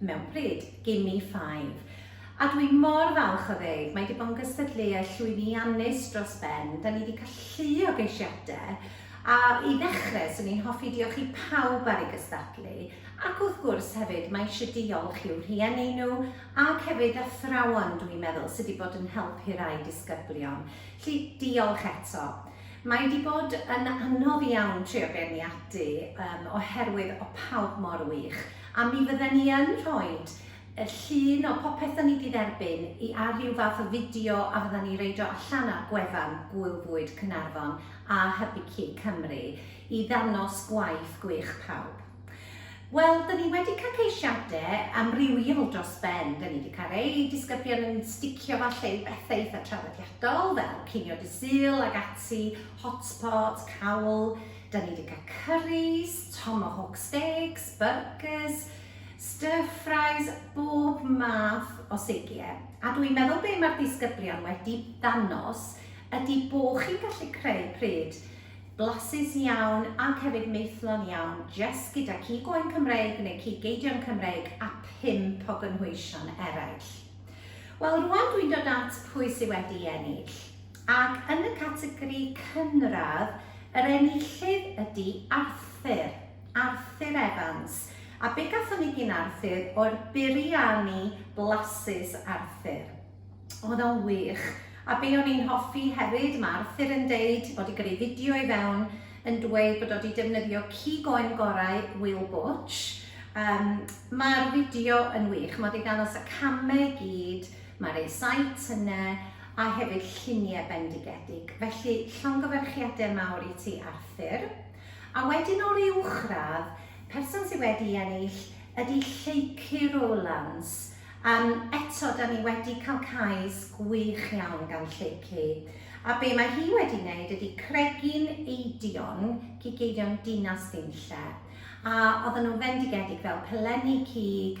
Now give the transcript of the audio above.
mewn pryd, gimme five. A dwi mor falch o ddeud, mae 'di bod yn gystadleuaeth llwyddiannus dros ben, da ni 'di cael llu o geisiadau, a i ddechrau, swn i'n hoffi diolch i pawb ar ei gystadlu, ac wrth gwrs hefyd mae eisiau diolch i'w rhieni nhw, ac hefyd athrawon dwi'n meddwl sydd 'di bod yn helpu rhai disgyblion. Felly, diolch eto. Mae 'di bod yn anodd iawn trio beirniadu, yym, oherwydd o pawb mor wych, A mi fydden ni yn rhoid y llun o popeth o'n i 'di dderbyn i ar ryw fath o fideo a fyddan ni reid o allan ar gwefan Gŵyl Fwyd Caernarfon a Hybu Cig Cymru i ddangos gwaith gwych pawb. Wel, 'dyn ni wedi cael ceisiade amrywiol dros ben. 'Dyn ni 'di cael rei disgyblion yn sticio falle i bethe eitha traddodiadol fel cinio Dy Sul ag ati, hotpot, cawl, Da ni 'di cael curries, tomahawk steaks, byrgys, stir fries, bob math o seigie. A dw i'n meddwl be mae'r disgyblion wedi dangos ydy bo chi'n gallu creu pryd blasus iawn ac hefyd maethlon iawn jyst gyda cig oen Cymreig neu cig geidion Cymreig a pump o gynhwysion eraill. Wel, rwan dwi'n dod at pwy sydd wedi ennill. Ac yn y categori cynradd, yr enillydd ydi Arthur, Arthur Evans. A be gathon ni gin Arthur oedd biryani blasus Arthur. Oedd o'n wych. A be o'n i'n hoffi hefyd, mae Arthur yn deud, bod i gyrru fideo i fewn, yn dweud bod o wedi defnyddio cig oen gorau Will Butch. Um, Mae'r fideo yn wych, mae wedi dangos y camau i gyd, mae'r e-site yna, a hefyd lluniau bendigedig, felly llongyfarchiadau mawr i ti Arthur. A wedyn o'r uwchradd, person sydd wedi ennill ydy Lleucu Rowlands, um, eto da ni wedi cael cais gwych iawn gan Lleucu, a be mae hi wedi wneud ydy cregin eidion, cig eidion dinas Dinlle, a oedden nhw'n fendigedig fel pelenni cig,